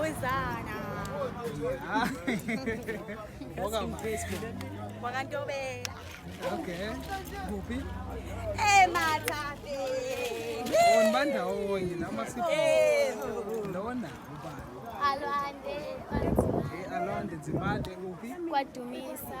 Uzana. Wakantobela. Okay. Kuphi? Emathabe. Wona bandawonye noma sipho. Lona ubani? Alwande. Eh Alwande Dzimade kuphi? Kwadumisa.